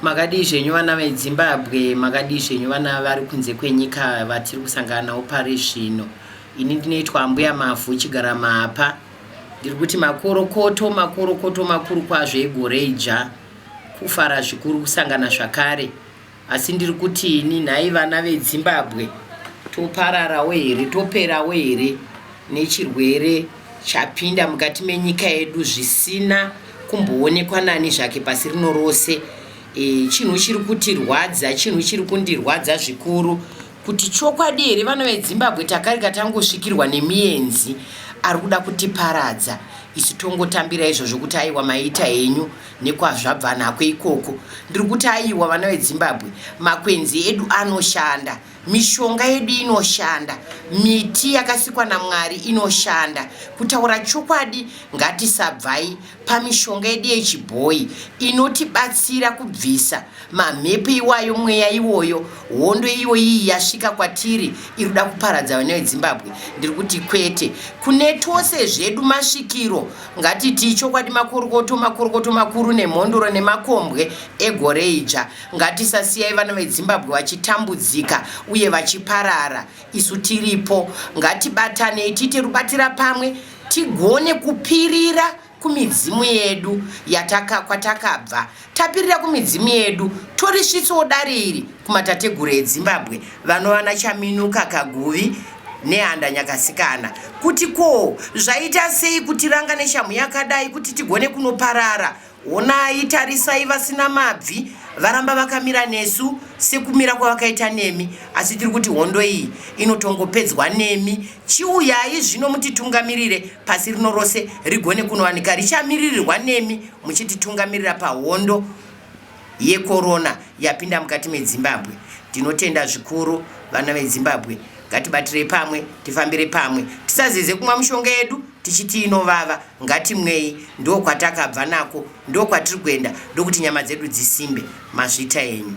Makadii zvenyu vana veDzimbabwe, makadii zvenyu vana vari kunze kwenyika vatiri kusangana navo pari zvino. Ini ndinoitwa Ambuya Mavhu chigara mapa. Ndiri kuti makorokoto, makorokoto makuru kwazvo egore idzva. Kufara zvikuru kusangana zvakare. Asi ndiri kuti ini nhai vana veDzimbabwe topararawo here, toperawo here nechirwere chapinda mukati menyika yedu zvisina kumboonekwa nani zvake pasi rino rose e, chinhu chiri kutirwadza chinhu chiri kundirwadza zvikuru kuti chokwadi here vana vedzimbabwe takarika tangosvikirwa nemienzi ari kuda kutiparadza isu tongotambira izvozvo kuti aiwa maita henyu nekwazvabva nako ikoko ndiri kuti aiwa vana vedzimbabwe makwenzi edu anoshanda Mishonga yedu inoshanda, miti yakasikwa naMwari inoshanda. Kutaura chokwadi, ngatisabvai pamishonga yedu yechibhoyi inotibatsira kubvisa mamhepo iwayo, mweya iwoyo, hondo iyo iyi yasvika kwatiri iri kuda kuparadza vana veDzimbabwe. Ndiri kuti kwete, kune tose zvedu masvikiro, ngatitii chokwadi, makorokoto, makorokoto makuru nemhondoro nemakombwe egore idzva. Ngatisasiyai vana veZimbabwe vachitambudzika uye vachiparara. Isu tiripo, ngatibatanei tiite rubatira pamwe tigone kupirira kumidzimu yedu yataka kwatakabva tapirira kumidzimu yedu torisvitsawo dare iri kumatateguru edzimbabwe vanovana chaminuka kaguvi nehanda nyakasikana kuti ko zvaita sei kutiranga neshamhu yakadai kuti tigone kunoparara Honai, tarisai vasina mabvi varamba vakamira nesu sekumira kwavakaita nemi, asi tiri kuti hondo iyi inotongopedzwa nemi. Chiuyai zvino mutitungamirire pasi rino rose rigone kunowanika richamiririrwa nemi muchititungamirira pahondo yekorona yapinda mukati medzimbabwe. Tinotenda zvikuru vana vedzimbabwe, ngatibatirei pamwe, tifambire pamwe, tisazeze kumwa mushonga yedu. tichiti inovava ngatimwei ndokwatakabva nako ndokwatiri kuenda ndokuti nyama dzedu dzisimbe mazvita enyu